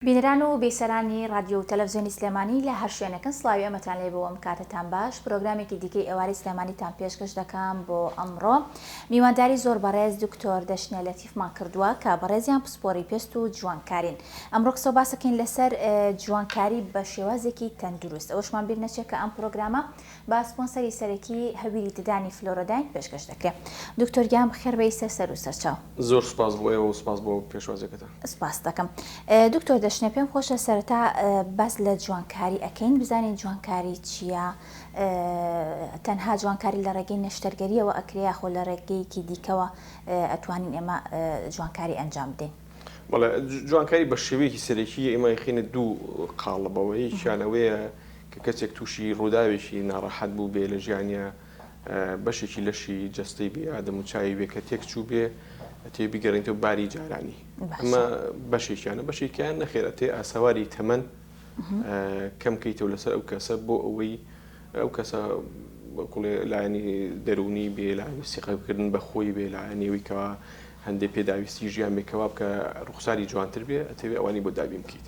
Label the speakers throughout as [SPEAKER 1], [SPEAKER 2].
[SPEAKER 1] بینەران و بیسەرانی ڕادیۆ و تەلەفزیۆنی سلێمانی لە هەر شوێنێکن سڵاوی ئەمەتان لێ بووم کاتتان باش پرۆگرامێکی دیکەی ئێوارەی سلێمانیتان پێشکەش دەکەم بۆ ئەمڕۆ میوانداری زۆر بەڕێز دکتۆر دەشنە لەتیفمان کردووە کە بەڕێزیان پسپۆری پێست و جوانکارین ئەمڕۆ قسە و باسەکەین لەسەر جوانکاری بە شێوازێکی تەندروست ئەوەشمان بیر نەچێت کە ئەم پرۆگرامە با سپۆنسەری سەرەکی هەویری ددانی فلۆرۆداین پێشکەش دەکرێ دکتۆر گیان بخێر بێی سەر سەرو سەرچاو. زۆر سوپاس بۆ ئێوە
[SPEAKER 2] و سوپاس بۆ پێشوازیەکەتان. سپاست دەکەم
[SPEAKER 1] دکتۆر دەشنێ پێم خۆشە سەرەتا باس لە جوانکاری ئەکەین بزانین جوانکاری چیە تەنها جوانکاری لە ڕێگەی نەشتەرگەریەوە ئەکرێ یاخۆ لە ڕێگەیەکی دیکەوە ئەتوانین ئێمە جوانکاری ئەنجام بدەین. بەڵێ
[SPEAKER 2] جوانکاری بە شێوەیەکی سەرەکی ئێمە ئەیخەینە دوو قاڵبەوە یەکیان ئەوەیە کە کەسێک تووشی ڕووداوێکی ناڕەحەت بووبێ لە ژیانیا، بەشێکی لەشی جەستەی بێ یا دەموچاوی بێ کە تێک چووبێ، ئەتەوێ بیگەڕێنیتەوە باری جارانی. ئەمە بەشێکیانە، بەشێکیان نەخێر ئەتەوێ ئاسەواری تەمەن کەم کەیتەوە لەسەر ئەو کەسە بۆ ئەوەی ئەو کەسە وەکوڵێ لایەنی دەروونی بێ، لایەنی سیقەکردن بە خۆی بێ، لایەنی ئەوی کەوا هەندێ پێداویستی ژیان بێ کەوا بکە ڕوخساری جوانتر بێ، ئەتەوێ ئەوانی بۆ دابین بکەیت.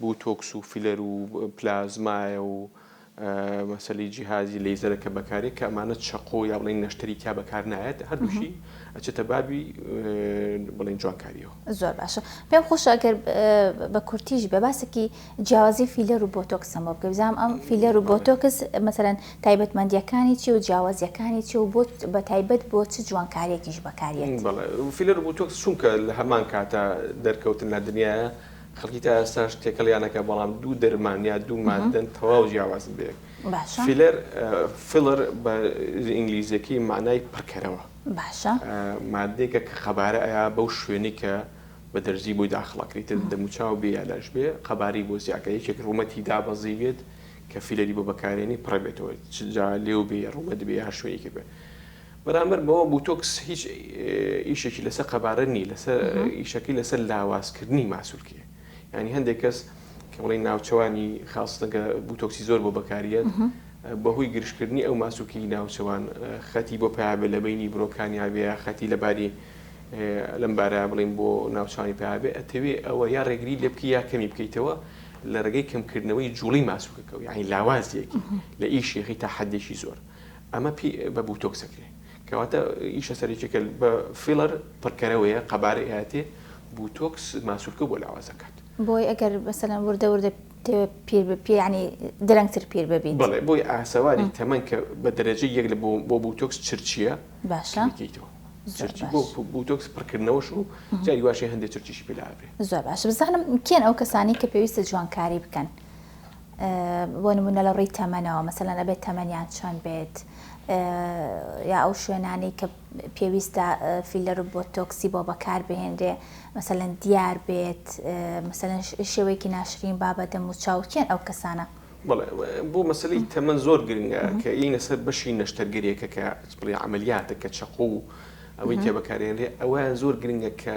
[SPEAKER 2] بوتۆکس و فیلەر و پلازمایە و مەسەلی جیهازی لەیزەرە کە بەکارێک کە ئەمانە چەقۆ یا بڵین نەشتەری تیا بەکار نایەت هەردووشی ئەچێتە بابی بڵین جوانکاریەوە زۆر باشە
[SPEAKER 1] پێم خۆشە گەر بە کورتیش بە باسێکی جیاوازی فیلەر و بۆتۆکسەمە بکە بزانام ئەم فیلەر و بۆتۆکس مەسەرەن تایبەتمەندیەکانی چی و جیاوازیەکانی چی و بۆ بە تایبەت بۆ چ جوانکاریەکیش بەکاریت فیلەر
[SPEAKER 2] بۆتۆکس چونکە لە هەمان کاتە دەرکەوتن لە دنیاە خەڵکی تا ئێستاش تێکەڵیانەکە بەڵام دوو دەرمان یا دوو مادەن تەواو جیاوازن بەیەک فیلەر فیلەر بە ئینگلیزیەکەی مانای پڕکەرەوە باشە
[SPEAKER 1] مادێکە
[SPEAKER 2] کە قەبارە ئەیا بەو شوێنی کە بە دەرزی بۆی داخڵەکریتە دەموچاو بێ یالاش بێ قەباری بۆ زیاکە یەکێک ڕوومەتی دابەزی بێت کە فیلەری بۆ بەکارێنی پڕبێتەوە چجا لێو بێ ڕوومەت بێ یا شوێنی کرد بێت بەرامبەر بەوە بوتۆکس هیچ ئیشێکی لەسەر قەبارە نی لەسەر ئیشەکەی لەسەر لاوازکردنی ماسولکێ یعنی هەندێک کەس کە بڵی ناوچەوانی خاستەگە بوتۆکسی زۆر بۆ بەکاریت بەهۆی گرشکردنی ئەو ماسوکی ناوچەوان خەتی بۆ پیاابێ لە بینی برۆکانیاێ خەتی لەباری لەم بارە بڵین بۆ ناوچانی پیاابێ ئەتەوێ ئەوە یا ڕێگری لێ بکە یا کەمی بکەیتەوە لە ڕێگەی کەمکردنەوەی جوڵی ماسوکەکە یعنی لاوازیەکی لە ئیشێخی تا حدێکی زۆر. ئەمە پێی بە بوتۆکس ئەکرێ کەواتە ئیشە سەرەکیەکە بە فیڵەر پڕکەرەوەیە قەبارەی ئاەتێ بوتۆکس ماسولکە بۆ لاواز دەکات بۆی ئەگەر
[SPEAKER 1] بەسەلەن وردە وردە پیر پێیانی درەنگتر پیر ببیت بڵێ بۆی ئاسەواری
[SPEAKER 2] تەمەن کە بە دەرەجە یەک لە بۆ بوتۆکس چرچیە باشە بکەیتەوە بوتۆکس پڕکردنەوەش و جاری واشی هەندێک چرچیشی پێلا بێ زۆر باش بزانم
[SPEAKER 1] کێن ئەو کەسانی کە پێویستە جوانکاری بکەن بۆ نموونە لە ڕووی تەمەنەوە مەسەلەن ئەبێت تەمەنیان چەند بێت یا ئەو شوێنانەی کە پێویستە فیلەر و بۆتۆکسی بۆ بەکار بهێنرێ مەسەلەن دیار بێت مەسەلەن شێوەیەکی ناشرین بابە دەم و چاوکێن ئەو کەسانە
[SPEAKER 2] بۆ مەسلی تەمەەن زۆر گرنگە کە ئینە سەر بەشی نەشتەرگەریەکە کە بڵی عملیاتە کە چەقۆ و ئەوەی کە بەکارێنێ ئەویان زۆر گرنگە کە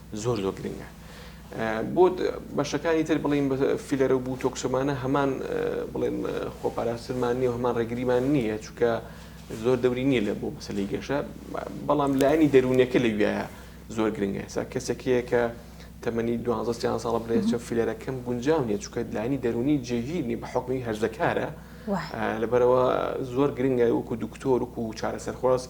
[SPEAKER 2] زۆر زۆر گرنگە بۆ بەشەکانی تر بڵین بە فیلەرە و بوتۆکسۆمانە هەمان بڵێن خۆپاراسترمان نیە و هەمان ڕێگریمان نییە چکە زۆر دەوری نییە لە بۆ مەسلی گەشە بەڵام لایانی دەروونەکە لە وایە زۆر گرنگە سا کەسێکەیە کە تەمەنی دوانزەستیان ساڵ بلێچە فیلەرەکەم گونجاو نیە چکە لانی دەرونی جێگیرنی بە حکمی هەرزەکارە لەبەرەوە زۆر گرنگە وەکو دکتۆر وکو چارەسەرخواست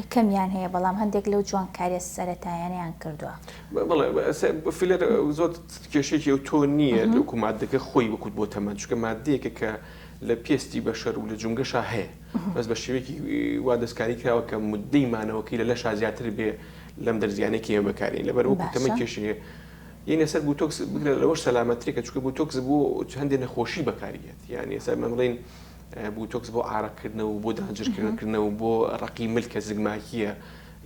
[SPEAKER 1] یەکەمیان هەیە بەڵام هەندێک لەو جوانکاریە سەرەتایانەیان کردوە. بەڵێ
[SPEAKER 2] فیلەر زۆر کێشەیەکی ئەوتۆ نییە وەکو ماددەکە خۆی وەکوت بۆ تەمەن چونکە ماددەیەکە کە لە پێستی بەشەر و لە جومگەشا هەیە بەس بە شێوەیەکی وا دەستکاری کراوە کە مددەی مانەوەکەی لە لەشا زیاتر بێ لەم دەرزیانەی کە ئێمە بەکارین لەبەر وەکو تەمەن کێشەیە یەنێ سەر بوتۆکس بگرە لەوەش سەلامەتترێکە چونکە بوتۆکس بۆ هەندێ نەخۆشی بەکاریدێت یان ئێستا مەمڵین بوتۆکس بۆ ئارەق کردنەوە و بۆ دانجر کردن کردنەوە و بۆ ڕەقی مل کە زگماکییە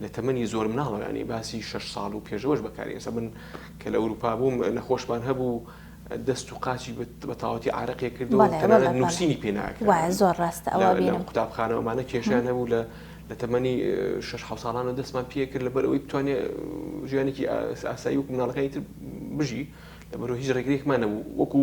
[SPEAKER 2] لە تەمەنی زۆر مناڵە یانی باسی شەش ساڵ و پێشەوەش بەکاری ئێستا من کە لە ئەوروپا بووم نەخۆشمان هەبوو دەست و قاچی بە تەواوەتی ئارەقێ کردو بەڵێ بەڵێ تەنانەت نووسینی پێ ناکرا وایە زۆر ڕاستە ئەوە
[SPEAKER 1] لە لە بینم قوتابخانەوە ئەمانە کێشەیان
[SPEAKER 2] هەبوو لە لە تەمەنی شەش حەوت ساڵانەوە دەستمان پێ کرد لەبەر ئەوەی بتوانێ ژیانێکی ئاس- ئاسایی وەکو مناڵەکانی تر بژی لەبەرو هیچ ڕێگرێکمان نەبوو وەکو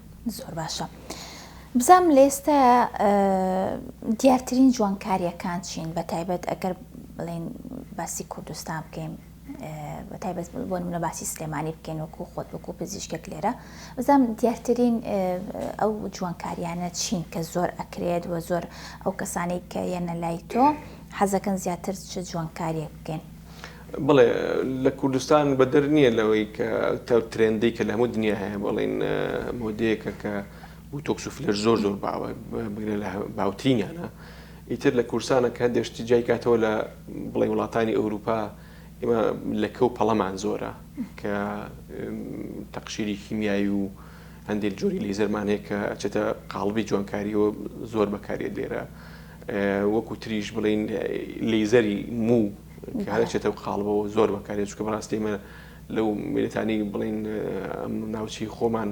[SPEAKER 2] زۆر باشە
[SPEAKER 1] بزانم لە ئێستایا دیارترین جوانکارییەکان چین بە تایبەت ئەگەر بڵین باسی کوردستان بکەین بە تایبەت بۆ منە باسی سلێمانی بکەین وەکو خۆت وەکو پزیشکێک لێرە بزانم دیارترین ئەو جوانکاریانە چین کە زۆر ئەکرێت و زۆر ئەو کەسانی کە یەنە لای تۆ حەزەکەن زیاتر چ جوانکاریەک بکەین بەڵێ
[SPEAKER 2] لە کوردستان بەدەر نییە لەوەی کە تاو ترێندەی کە لە هەموو دنیا هەیە بەڵین مۆدەیەکە کە بوتۆکس و فلەر زۆر زۆر باوە بگرە لە باوترینیانە ئیتر لە کورسانە کە هەندێشتی جای کاتەوە لە بڵی وڵاتانی ئەوروپا ئێمە لەکە و پەڵەمان زۆرە کە تەقشیری کیمیایی و هەندێک جۆری لی زەرمانەیە کە ئەچێتە قاڵبی جوانکاریەوە زۆر بەکارێت لێرە وەکو تریش بڵین لیزەری موو کە هەر ئەچێتە ئەو قاڵبەوە زۆر بەکارێت، چونکە بەڕاستی ئێمە لەو میلتانی بڵێین ئەم ناوچەی خۆمان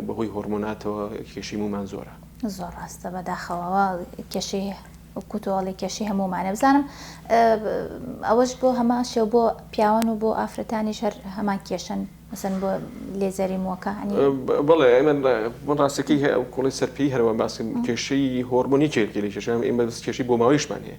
[SPEAKER 2] بەهۆی هۆرمۆناتەوە کێشەی مومان زۆرە. زۆر ڕاستە
[SPEAKER 1] بەداخەوەوە کێشەی کوتۆڵی کێشی هەمومانە بزانم ئەوەش بۆ هەما شێو بۆ پیاوان و بۆ ئافرەتانی شەر هەمان کێشن مەسن بۆ لێزەری موەکە بڵێ ئەمە
[SPEAKER 2] من ڕاستەکەی هەیە ئەو کوڵی سەرپی هەروە باسی کێشەی هۆرمۆنی چێکی لە کێشان ئێمە کێشی بۆ ماوەیشمان هەیە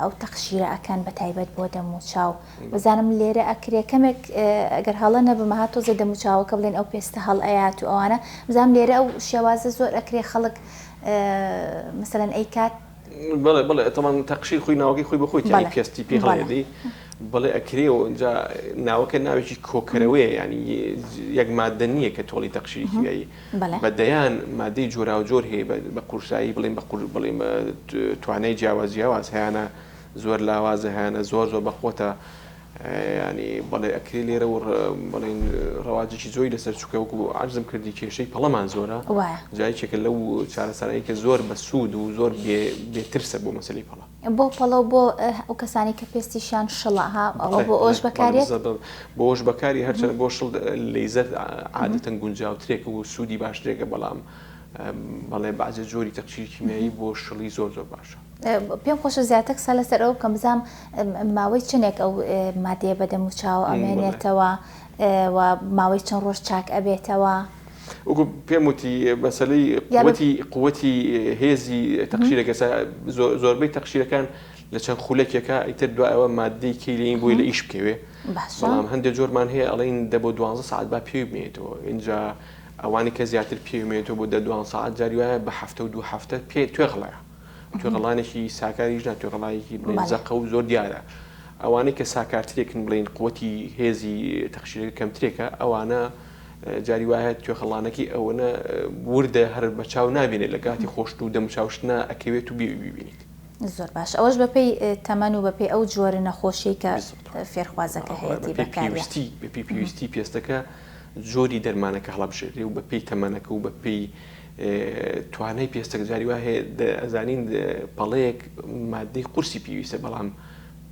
[SPEAKER 1] ئەو تەقشیرە ئەکەن بە تایبەت بۆ دەموچاو بزانم لێرە ئەکرێ کەمێک گەر هەڵە نەبم ها تۆزێ دەموچاوەکە بڵێن ئەو پێستە هەڵ ئەیات و ئەوانە بزانم لێرە ئەو شێوازە زۆر ئەکرێ خەڵک مەسەلەن ئەی کات بڵێ بڵێ
[SPEAKER 2] تەمان تەقشیر خۆی ناوەکەی خۆی بەخۆی تیانی پێستی پێ هەڵێدی بڵێ ئەکرێ و ئەوجا ناوەکە ناوێکی کۆکەرەوەیە ینی یەک مادە نییە کە تۆڵی تەقشیری بە دەیان مادەی جۆراوجۆر هەیە بە قورسایی بڵێم بە قور بڵێم توانای جیاواز جیاواز هەیانە زۆر لاوازە هەیانە زۆر زۆر بەخۆتە ینی بەڵێ ئەکری لێرە و بڵین ڕەواجێکی زۆری لەسەر چکە وکو عرزم کردی کێشەی پەڵەمان زۆرە جایکێکە لەو چارەسەرەیەکە زۆر بە سوود و زۆر بێترسە بۆ مەسلی پەڵە بۆ پەڵەو بۆ
[SPEAKER 1] ئەو کەسانی کە پێستیشیان شڵە ها ئەوە بۆ ئەوش بەکارێت بۆ ئەوش
[SPEAKER 2] بەکاری هەرچەند بۆ شڵ لەیزەر عادەتەن گونجاوترێک و سوودی باشترێکە بەڵام بەڵێ بازە جۆری تەقشیر کیمیایی بۆ شڵی زۆر زۆر باشە پێم خۆشە
[SPEAKER 1] زیاتر قسە لەسەر ئەو بکەم بزانم ماوەی چنێک ئەو مادەیە بەدەم و چاوە ئەمێنێتەوە و ماوەی چەند ڕۆژ چاک ئەبێتەوە وەکو
[SPEAKER 2] پێم وتی مەسلەی قوتی قوتی هێزی تەقشیرەکەسا زۆربەی تەقشیرەکان لە چەند خولەکێکە ئیتر دو ئەوە مادەی کەی لەین بووی لە ئیش بکەوێ بەڵام هەندێک جۆرمان هەیە ئەڵین دە بۆ دوانزە سعات با پێوی بێتەوە اینجا ئەوانی کە زیاتر پێوێتەوە بۆ دە دوان سعات جاری وایە بە هەفتە و دوو هەفتە پێ توێغڵە توێغڵانێکی ساکاریش نا توێغڵایەکی بزەقە و زۆر دیارە. ئەوانەی کە ساکارترێکن بڵین قوتی هێزی تەخشیرەکە کەمترێکە ئەوانە جاری وایە توێخڵانەکەی ئەوەنە وردە هەر بە چاو نابینێت لە کاتی خۆشت و دەم چاوشتنا ئەکەوێت و بێوی ببینیت. زۆر باش ئەوەش
[SPEAKER 1] بەپێی تەمەن و بەپێی ئەو جۆرە نەخۆشیەی کە
[SPEAKER 2] فێرخوازەکە
[SPEAKER 1] هەیەتی
[SPEAKER 2] بەکاریەتی
[SPEAKER 1] بەپی پێویستی
[SPEAKER 2] پێستەکە جۆری دەرمانەکە هەڵبژێری و بەپی تەمەنەکە و بەپی توانای پێستەک جاری وایە ئەزانین پەڵەیەک مادەی قورسی پێویستە بەڵام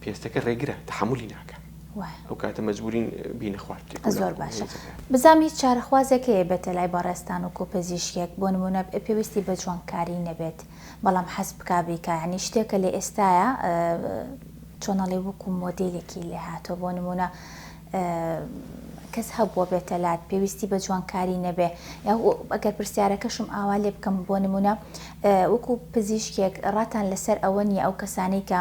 [SPEAKER 2] پێستەکە ڕێگرە تەحەمولی ناکا وایە ئەو کاتە مەجبورین بینە خوارد بکەین کەواتە زۆر باشە هێزە کار.
[SPEAKER 1] بزانم هیچ چارەخوازێک هەیە بێتە لای بەڕێزتان وەکو پزیشکێک بۆ نمونە پێویستی بە جوانکاری نەبێت بەڵام حەز بکا بیکا یانی شتێکە لە ئێستایا چۆن ئەڵێ وەکو مۆدێلێکی لێ هاتوە بۆ نمونە کەس هەبوە بێتە لات پێویستی بە جوانکاری نەبێ یاخۆ ئەگەر پرسیارەکەشم ئاوا لێ بکەم بۆ نمونە وەکو پزیشکێک ڕاتان لەسەر ئەوە نیە ئەو کەسانەی کە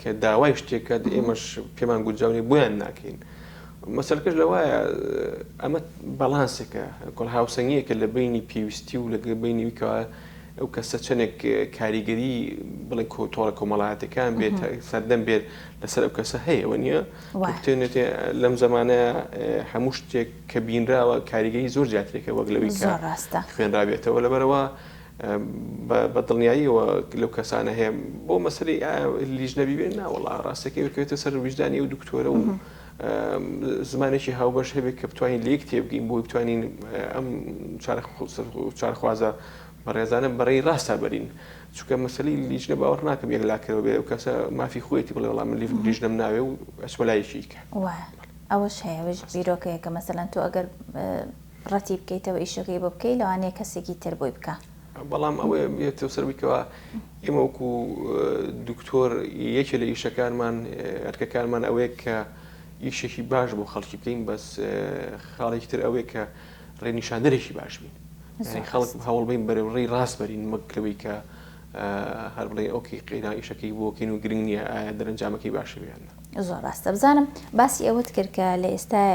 [SPEAKER 2] کە داوای شتێک کات ئێمەش پێمان گونجاو نیە بۆیان ناکەین مەسەلکەش لەوایە ئەمە بەڵانسێکە کۆڵ هاوسەنگیەکە لە بینی پێویستی و لەگە بینی ویکەوە ئەو کەسە چەندێک کاریگەری بڵێن کۆتۆڕە کۆمەڵاتەکان بێت سەردەم بێت لەسەر ئەو کەسە هەیە و نیە بتێنێت لەم زمانە هەموو شتێک کە بینراوە کاریگەری زۆر زیاترێکە وەک لەوی ڕاستە خوێنراوێتەوە لەبەرەوە بە دڵنیاییەوە لەو کەسانە هەیە بۆ مەسەری لیژنە بیبێن ناوەڵا ڕاستەکەی بکەوێتە سەر ویژدانی و دکتۆرە و زمانێکی هاوبەش هەبێت کە بتوانین لێک تێبگەین بۆی بتوانین ئەم چارخوازە بەڕێزانە بەڕێی ڕاستە بەرین چکە مەسلی لیژنە باوەڕ ناکەم یەک لاکەەوە بێ و کەسە مافی خۆیەتی بڵێ وڵام لیژنم ناوێ و ئەسمەلایەکی کە ئەوەش
[SPEAKER 1] هەیەش بیرۆکەیە کە مەسەلەن تۆ ئەگەر ڕەتی بکەیتەوە ئیشەکەی بۆ بکەی لەوانەیە کەسێکی تر بۆی بکا. بەڵام ئەوەیە
[SPEAKER 2] بێت تۆ سەر بیکەوە ئێمە وەکو دکتۆر یەکێ لە ئیشەکانمان ئەرکەکانمان ئەوەیە کە ئیشێکی باش بۆ خەڵکی بکەین بەس خاڵێکی تر ئەوەیە کە ڕێنیشاندەرێکی باش بین یعنی خەڵک هەوڵ بین بەرەو ڕێی ڕاست بەرین وەک لەوەی کە هەر بڵێ ئۆکەی قەینا ئیشەکەی بۆکەین و گرنگ نییە ئایا دەرەنجامەکەی باشە یان نا. زۆر ڕاستە بزانم
[SPEAKER 1] باسی ئەوەت کرد کە لە ئێستای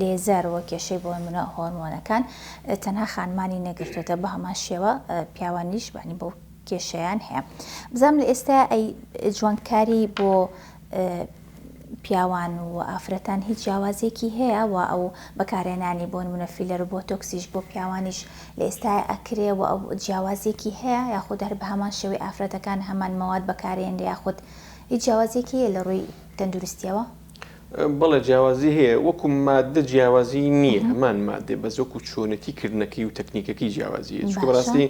[SPEAKER 1] لێزەر وە کێشەی بۆ منە هۆرمۆنەکان تەنها خانمانی نەگرتوێتە بە هەمان شێوە پیاوانیش بانی بۆ کێشیان هەیە بزانم لە ئێستا ئەی جوانکاری بۆ پیاوان و ئافرەتان هیچ جیاوازێکی هەیە و ئەو بەکارێنانی بۆن منە فیلەر بۆ تۆکسیش بۆ پیاوانیش لە ئێستای ئەکرێ و ئەو جیاوازێکی هەیە یاخود هەر بە هەمان شێوەی ئافرەتەکان هەمان مەواد بەکارێن یاخود هیچ جیاوازیەکی هەیە لە ڕووی تەندروستیەوە؟ بەڵێ
[SPEAKER 2] جیاوازی هەیە وەکو ماددە جیاوازی نییە هەمان مادێ بەس وەکو چۆنەتی کردنەکەی و تەکنیکەکەی جیاوازیە چکە بەڕاستی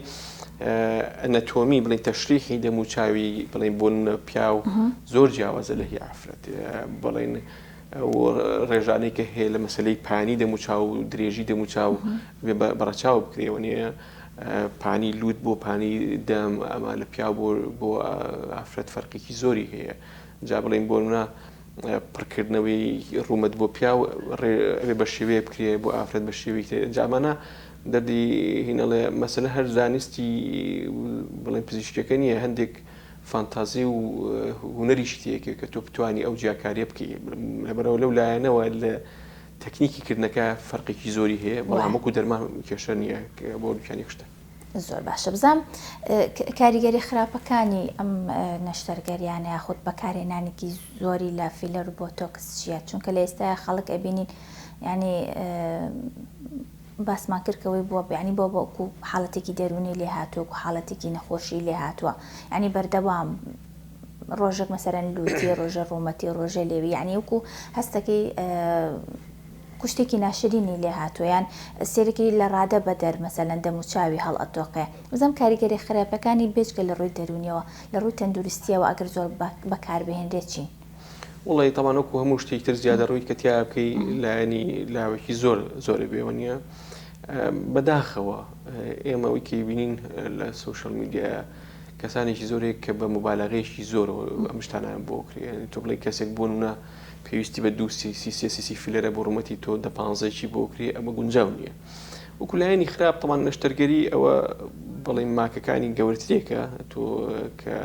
[SPEAKER 2] ئەنەتۆمی بڵین تەشریحی دەم و چاوی بڵین بۆ نە پیاو زۆر جیاوازە لە هی ئافرەت بڵین ڕێژانەی کە هەیە لە مەسلەی پانی دەم و چاو و درێژی دەم و چاو بەڕەچاو بکرێەوە نیە پانی لوت بۆ پانی دەم ئەمە لە پیاو بۆ بۆ ئافرەت فەرقێکی زۆری هەیە جا بڵێن بۆ منە پڕکردنەوەی ڕوومەت بۆ پیاو ڕێ بە شێوەیە بکرێ بۆ ئافرەت بە شێوی کرێ جامانە دەردی هینەڵێ مەسەلە هەر زانستی بڵێن پزیشکەکە نییە هەندێک فانتازی و هوەری شتێکە کە تۆ بتانی ئەو جیاکاریە بکەی لەبەرەوە لەو لایەنەوە لە تەکنیکی کردنەکە فەرقێکی زۆری هەیە بەڵام وەکو دەرمان کێشە نییە بۆ دوکانی کوشتن. زۆر باشە
[SPEAKER 1] بزانم کاریگەری خراپەکانی ئەم نەشتەرگەریانە یاخود بەکارهێنانێکی زۆری لە فیلەر و بۆتۆکس چییە چونکە لە ئێستای خەڵک ئەبینین ینی باسمان کردکەوەی بووە بیانی بۆ بۆکو حاڵەتێکی دەرونی لێ هاتووە و حاڵەتێکی نەخۆشی لێ هاتووە ینی بەردەوام ڕۆژێک مەسەلەن لوتی ڕۆژێ ڕوومەتی ڕۆژێ لێوی یعنی وکو هەستەکەی کوشتێکی ناشرینی لێ هاتوویان سێرەکی لە ڕادە بە دەر مەسەلەن دەم و چاوی هەڵ ئەتۆقێ بزەم کاریگەری خراپەکانی بێجگە لە ڕووی دەرونیەوە لە ڕووی تەندروستیەوە ئەگەر زۆر بەکاربهێنرێت چین؟ وەڵی تەبان
[SPEAKER 2] وەکو هەموو شتێک تر زیادە ڕووی کە تیا بکەی لایەنی لاوەکی زۆر زۆری بێوە نیە بەداخەوە ئێمە وکی بینین لە سوشل میدیایە کەسانێکی زۆر هەیە کە بە موبالەغەیەکی زۆرەوە ئەم شتانەیان بۆ ئەکرێ یانی تۆ بڵێی کەسێک بۆ نمونە پێویستی بە دوو سی سی سێ سی سی فیلەرە بۆ ڕوومەتی تۆ دە پانزەی چی بۆ ئەکرێ ئەمە گونجاو نییە وەکو لایەنی خراپ تەمان نەشتەرگەری ئەوە بڵێم ماکەکانی گەورەترێکە تۆ کە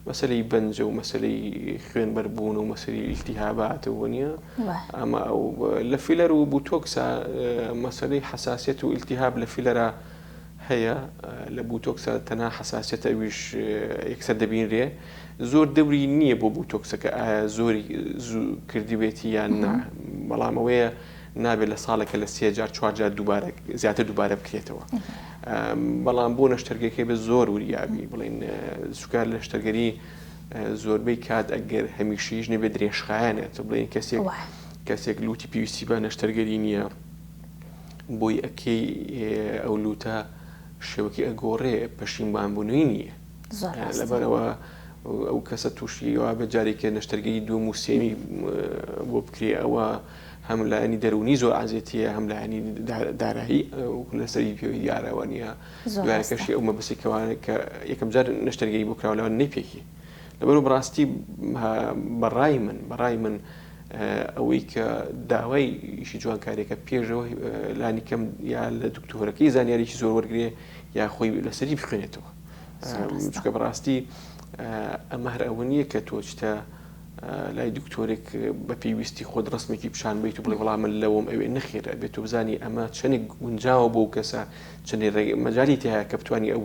[SPEAKER 2] مەسلەی بەنجە و مەسلەی خوێنبەربوون و مەسری ئیلتیهاباتەوە نییە ئەمە ئەو لە فیلەر و بوتۆکسا مەسلەی حساسیت و ئیلتیهاب لە فیلەرە هەیە لە بوتۆکسە تەنها حەساسیەت ئەویش یەکسەر دەبینرێ زۆر دەوری نییە بۆ بوتۆکسەکە ئایا زۆری زوو کردبێتی یان نا بەڵام ئەوەیە نابێت لە ساڵێکە لە سێ جار چوار جار دووبارە زیاتر دووبارە بکرێتەوە بەڵام بۆ نەشتەرگەکەی بە زۆر وریابی بڵین سوکار لە شتەرگەری زۆربەی کات ئەگەر هەمیشەیش نەبێ درێژخایەنێت بڵێن کەسێک کەسێک لوتی پێویستی بە نەشتەرگەری نییە بۆی ئەکەی ئەو لوتە شێوەکی ئەگۆڕێ پەشیمان بوونەوی نییە لەبەرەوە ئەو کەسە تووشیەوە بە جارێکە نەشتەرگەی دوو موسێمی بۆ بکرێ ئەوە هەم لایەنی دەرونی زۆر عزیێتە هەم لایەنی دارایی لەسەری پێوی دیارەوە نیە دوایکەشی ئەو مەبستی کەوانە کە یەکەم جار نەشتەرگەی بۆ کراولەوە نەی پێکی لەبەرو بەڕاستی بەڕای من بەڕای من ئەوەی کە داوای ئیشی جوانکاریەکە پێشەوە لانی کەم یا لە دکتۆرەکەی زانیاریی زۆر وەرگێ یا خۆی لەسەری بخوێنێتەوە چکە بەڕاستی ئەمە هەر ئەوە نییە کە تۆچتە لای دکتۆرێک بە پێویستی خۆت ڕستمێکی پیشان بیت و بڵێ وڵام من لەوەم ئەوێ نەخێر ئەبێت و بزانانی ئەمە چەندێک گونجاوە بۆ کەسە چەندێ مەجای تایە کە بتانی ئەو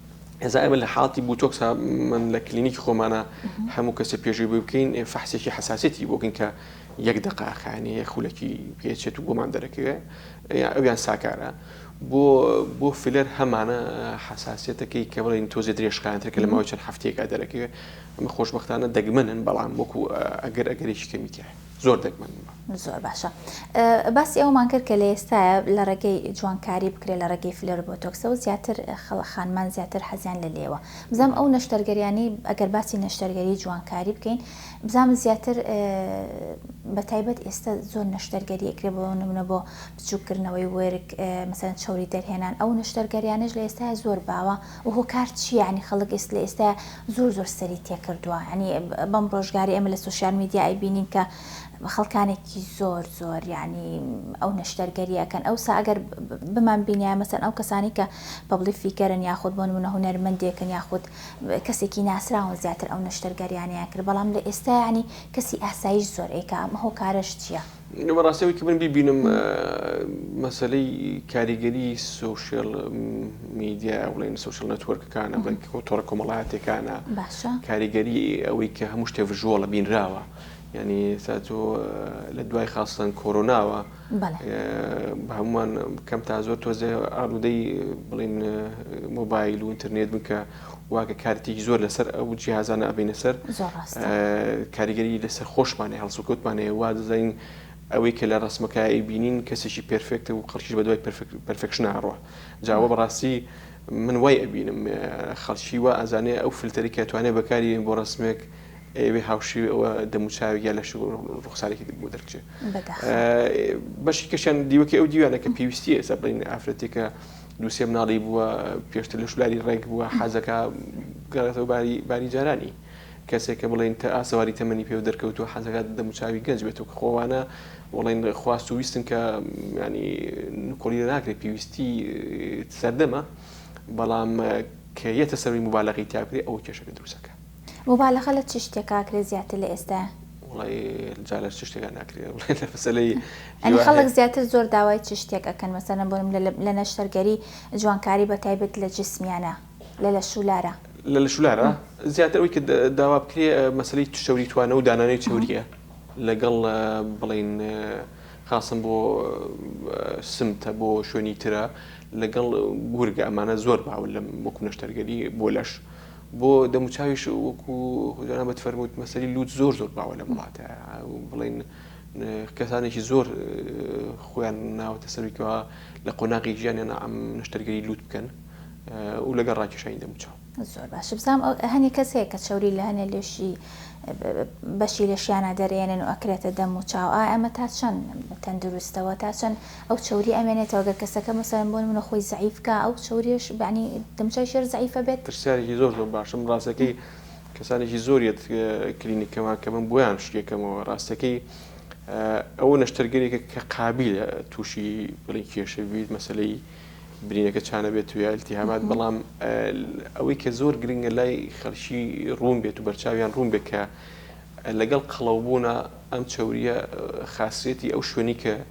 [SPEAKER 2] ئێسا ئێمە لە حاڵەتی بوتۆکس من لە کلینیکی خۆمانە هەموو کەسێ پێشوی بۆی بکەین فەحسێکی حساسێتی بۆکەین کە یەک دەقاخانی یە خولەکی پێچێت و بۆمان دەرەکەوێ ئەویان ساکارە بۆ بۆ فلەر هەمانە حساسەتەکەی کە بڵین تۆزێ درێژخانتر کە لە ماوەی چەند هەفتەیەکە دەرەکەوێ ئەمە خۆشببختانە دەگمەنن بەڵام وەکو ئەگەر ئەگەرێکی کەمیتیە. زۆر دەگمەن بووە. زۆر باشە
[SPEAKER 1] باسی ئەوەمان کرد کە لە ئێستاە لە ڕێگەی جوانکاری بکرێت لە ڕێگەی فلەر بۆتۆکسەوە زیاتر خەڵە خانمان زیاتر حەزیان لە لێوە بزانام ئەو نەشتەرگەریانی ئەگەر باسی نەشتەرگەری جوانکاری بکەین بزانام زیاتر بە تایبەت ئێستا زۆر نەشتەرگەری ئەکرێ بۆ نمونە بۆ بچووکردنەوەی وەرگ مەسەن چوری دەرهێنان ئەو نەشتەرگەریانش لە ئێستا زۆر باوە و هۆکار چیانی خەڵک ئێست لە ئێستا زۆر زۆر سەری تێکردوە یانی بەم ڕۆژگارە ئێمە لە سۆشیال میدیا ئەیبینین کە خەڵکانێکی زۆر زۆر یانی ئەو نەشتەرگەریەکەن ئەوسا ئەگەر بمان بینە مەسەن ئەو کەسانی کە پبلی فیکەرن یاخود بۆن منە هوەرمەندێکن یاخود کەسێکی ناسراون زیاتر ئەو نەشتەرگەریانیان کرد بەڵام لە ئێستا ینی کەسی ئاسایش زۆر ئەیکە ئەم هۆکارش چییە؟ ئینە بەڕاستی ئەوەی کە من
[SPEAKER 2] بیبینم مەسەلەی کاریگەری سوشیل میدیا بڵێن سوشل نەتوەرکەکانە تۆڕە کۆمەڵاتەکانە کاریگەری ئەوەی کە هەموو شتێ ڤژۆڵە بینراوە ینی تا تۆ لە دوای خاستن کۆرۆناوە هەمووان کەم تا زۆر تۆزێ ئالوودەی بڵین مۆبایل و ئینتەرنێت بکە واگە کارتێکی زۆر لەسەر ئەو جیازانە ئەبینە سەر کاریگەری لەسەر خۆشمانە هەڵسوکەوتمانەیە وا دەزانین ئەوەی کە لە ڕسمەکەی بینین کەسێکی پرفێکتە و خەڵکیش بە دوای پرفکشنناڕوە جاوە بەڕاستی من وای ئەبینم خەڵکی وا ئازانێ ئەو فلتەری کە توانێت بەکاری بۆ ڕسمێک ئەوێ هاوشی ئەوە دەموچاوی یا لە ڕوخسارێکی بۆ دەرچێت بەشی کەشیان دیوەکە ئەو دیوانە کە پێویستی ئێستا بڵین ئافرەتێکە دوو سێ مناڵی بووە پێشتر لە شولاری ڕێک بووە حەزەکە گەڕێتەوە باری باری جارانی کەسێک کە بڵێن تە ئاسەواری تەمەنی پێ و دەرکەوتو حەزەکات دەموچاوی گەنج بێت و کە خۆوانە وڵێن خواست و ویستن کە ینی نکۆڵی ناکرێت پێویستی سەردەمە بەڵام کە یەتە سەروی مبالەغی تاکرێ ئەو کێشەکە دروستەکە موبالەغە لە
[SPEAKER 1] چ شتێکا ئەکرێ زیاتر لە ئێستایا؟ وەڵای
[SPEAKER 2] جا لە چ شتێکا ناکرێ بڵێ لە مەسەلەی یەنی هیوا خەڵک هەیە.
[SPEAKER 1] زیاتر زۆر داوای چ شتێک ئەکەن مەسەلەن بۆ نمونە لە نەشتەرگەری جوانکاری بە تایبەت لە جسمیانە لە لە شوولارا؟ لە لە شوولارا
[SPEAKER 2] زیاتر ئەوەی کە داوا بکرێ مەسەلەی چەوری توانە و دانانەی چەوریە لە گەڵ بڵێین خاسن بۆ سمتە بۆ شوێنی ترە لە گەڵ گورگە ئەمانە زۆر باون لەم وەکو نەشتەرگەری بۆ لەش. بۆ دەموچاویش وەکو جانا بەت فەرمووت مەسەری لووت زۆر زۆر باوە لەم وڵاتە بڵین کەسانێکی زۆر خۆیان ناوەتە سەرکەوە لە قۆناغی ژیانیان ئەم نشتەرگەری لووت بکەن و لەگەڵ ڕاکێشانی دەموچاو زۆر باش بزانام
[SPEAKER 1] هەنی کەس هەیە کە چوری لە هەنێ لێشی بەشی لەشیانە دەرێنن و ئەکرێتە دەم و چاو ئا ئەمە تا چەند تەندروستەوە تا چەند ئەو چەوریە ئەمێنێتەوە گەر کەسەکە مەسەلەن بۆ نمونە خۆی زەعیف کا ئەو چەوریەش بەعنی دەموچاوی ژێر
[SPEAKER 2] زەعیفە
[SPEAKER 1] بێت. پرسیارێکی
[SPEAKER 2] زۆر زۆر
[SPEAKER 1] باشە من ڕاستەکەی کەسانێکی
[SPEAKER 2] زۆر یەت کلینیکەمان کە من بۆیان شتی ئەکەمەوە ڕاستەکەی ئەوە نەشتەرگەرێکە کە قابیلە تووشی بڵین کێشە بیت مەسلەی برینەکە چانە بێت و یا التهابات بەڵام ئەوەی کە زۆر گرنگە لای خەڵکی ڕوون بێت و بەرچاویان ڕوون بێت کە لەگەڵ قەڵەوبوونا ئەم چەوریە خاصیەتی ئەو شوێنی کە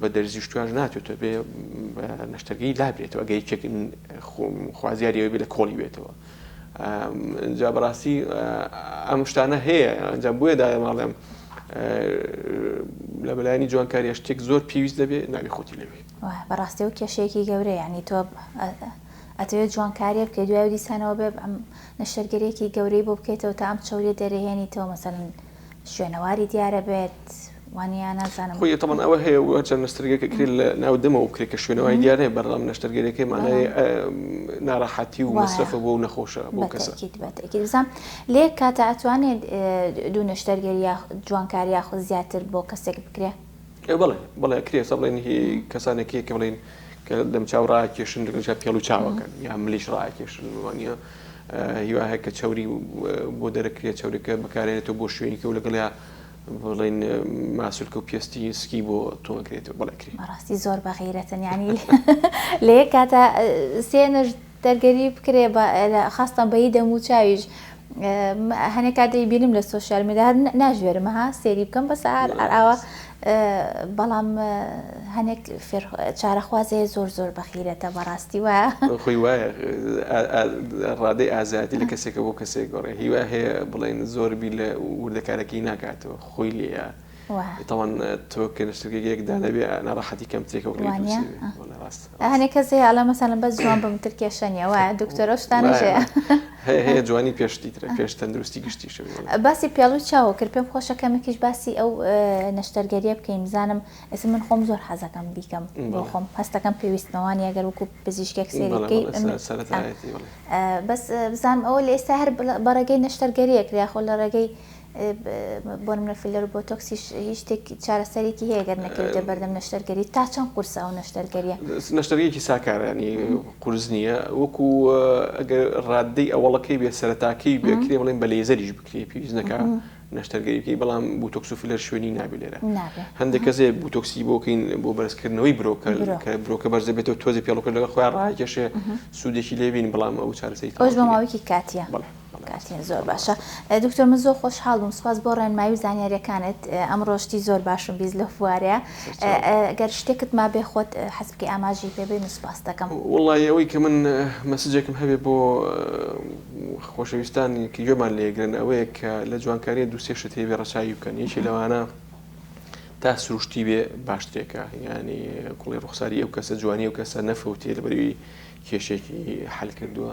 [SPEAKER 2] بە دەرزی شتویاش ناتێتەوە بێ نەشتەرگەی لابرێتەوە ئەگە یەکێک خوازیاری ئەوێ لە کۆڵی بێتەوە جا بەڕاستی ئەم شتانە هەیە ئەنجام بۆیە داە ماڵێم لە بەلایانی جوانکاریە شتێک زۆر پێویست دەبێت ناوی خۆتی لەوێ بەڕاستی و
[SPEAKER 1] کێشەیەکی گەورە ینی تۆ ئەتەوێت جوانکاریە بکە دوای دیسانەوە بێ ئەم نەشتەرگەرێکی گەورەی بۆ بکەیتەوە تا ئەم چوری دەرەهێنیتەوە مەسەن شوێنەواری دیارە بێت وانە نازانم خۆی تەمان ئەوە هەیە و
[SPEAKER 2] هەرچەند نەسترگەکە کرێت لە ناو دەمەوە بکرێت کە شوێنەوەی دیار هەیە بەردەڵام نەشتەرگەرەکەی مانای ناراحەتی و مەسرەفە بۆ نەخۆشە بۆ کەسەکیبزان
[SPEAKER 1] لێ کاتە ئەتوانێت دوو نەشتەرگەری جوانکاری یاخود زیاتر بۆ کەسێک بکرێت بەڵێ بەڵێ
[SPEAKER 2] ئەکرێ ئێستا بڵێن هی کەسانێک یەکە بڵێن کە دەمچاو ڕاکێشن لەگەڵ پێڵ و چاوەکەن یا ملیش ڕاکێشن وانە هیوا هەیە کە چوری بۆ دەرەکرێت چورەکە بەکارێنێتەوە بۆ شوێنیکە و لەگەڵیا بڵین ماسولکە و پێستی سکی بۆ تۆنکرێتەوە بەڵێکری بەڕاستی زۆر بەغیرەتن
[SPEAKER 1] ینی لە یەک کاتە سێ نەژ دەرگەری بکرێ بە لە خاستان بەیی دەموو چاویش هەنێ کات دەی بینم لە سۆشیال میدیا هەر ناژێرم ها سێری بکەم بەس هەر ئەر ئاوا بەڵام هەنێک فێر چارەخوازەیە زۆر زۆر بەخیرەتە بەڕاستی وایە خۆی
[SPEAKER 2] وایە ڕادەی ئازایەتی لە کەسێکە بۆ کەسێک گۆڕێ هیوا هەیە بڵێن زۆر بی لە وردەکارەکەی ناکاتەوە خۆی لێە وا. تاوان تۆ کە لەشتەکە گەیەک دانە بێ ناڕەحەتی کەم ترێکە وەک وا نیە ها
[SPEAKER 1] هەنێ کەس هەیە ئەڵێ مەسەلەن بەس جوان بم تر کێشە نیە وایە دکتۆرە شتانە ژەیە هەیە هەیە
[SPEAKER 2] جوانی پێشتی ترە پێش تەندروستی گشتی شەوێ باسی پێڵوی
[SPEAKER 1] چاوە کرد پێم خۆشە کەمێکیش باسی ئەو نەشتەرگەریە بکەین بزانم ئێستا من خۆم زۆر حەزەکەم بیکەم بۆ خۆم هەستەکەم پێویستمەوانی ئەگەر وەکو پزیشکێک سێری بکەی بەس بزانم ئەوە لە ئێستا هەر بەڕێگەی نەشتەرگەریەک یاخۆ لە ڕێگەی بۆ نمونە فیلەر و بۆتۆکسیش هیچ شتێک چارەسەرێکی هەیە گەر نەکەویتە بەردەم نەشتەرگەری تا چەند قورسە ئەو نەشتەرگەریە نەشتەرگەیەکی
[SPEAKER 2] ساکارانی قورس نییە وەکو ئەگەر ڕاددەی ئەوەڵەکەی بێ سەرتاکەی بێکرێ بڵێن بە لێزەریش بکرێ پێویست نەکە نەشتەرگەریەکەی بەڵام بوتۆکس و فیلەر شوێنی نابێ لێرە هەندێک کەسێ بوتۆکسی بۆکەین بۆ بەرزکردنەوەی برۆکە کە برۆکە بەرزە بێتەوە تۆزی پێڵکە لەگە خۆیان ڕاکێشێ سوودێکی لێبین بەڵام ئەو چارەسەی ئەوش بەماوەیەکی کاتیە
[SPEAKER 1] بڵێ کاتیان زۆر باشە دکتۆر من زۆر خۆشحاڵ بووم سپاس بۆ ڕێنمایی و زانیاریەکانت ئەمڕۆ شتی زۆر باشم بیست لە فوارەیە گەر شتێکت ما بێ خۆت حەز بکەی ئاماژەی پێ بین و سپاست دەکەم. وەڵڵاهی ئەوەی کە من
[SPEAKER 2] مەسجێکم هەبێ بۆ خۆشەویستانی کە گوێمان لێ ئەگرن ئەوەیە کە لە جوانکاریە دوو سێ شت هەیبێ ڕەچاوی بکەن یەکێ لەوانە تا سروشتی بێ باشترێکە یانی کوڵی ڕوخساری ئەو کەسە جوانی ئەو کەسە نەفەوتێ لەبەروی کێشێکی حەل کردووە.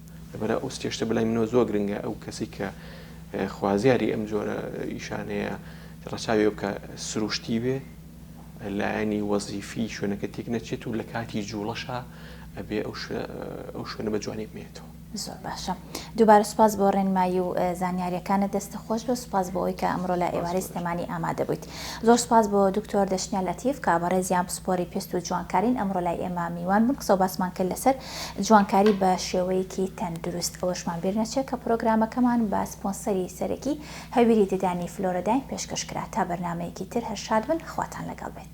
[SPEAKER 2] لەبەرئ ئەو سێشتە بەلای منەوە زۆر گرنگە ئەو کەسی کە خوازیاری ئەم جۆرە ئیشانەیە ڕەچاوێ بکە سروشتی بێ لایەنی وەزیفی شوێنەکە تێک نەچێت و لە کاتی جوڵەشا ئەبێ ئەو شوێنە بە جوانی بمێنێتەوە. زۆر باشە
[SPEAKER 1] دووبارە سوپاس بۆ ڕێنمایی و زانیاریەکانت دەستت خۆش بێ سوپاس بۆ ئەوی کە ئەمڕۆ لە ئێوارەی سلێمانی ئامادە بوویت زۆر سوپاس بۆ دکتۆر دەشنیا لەتیف کە بەڕێزیان پسپۆری پێست و جوانکارین ئەمڕۆ لای ئێمە میوان بوون قسە و باسمان کرد لەسەر جوانکاری بە شێوەیەکی تەندروست، ئەوەشمان بیر نەچێت کە پرۆگرامەکەمان بە سپۆنسەری سەرەکی هەویری ددانی فلۆرەداین پێشکەش کرا، تا بەرنامەیەکی تر هەر شاد بن خواتان لەگەڵ بێت.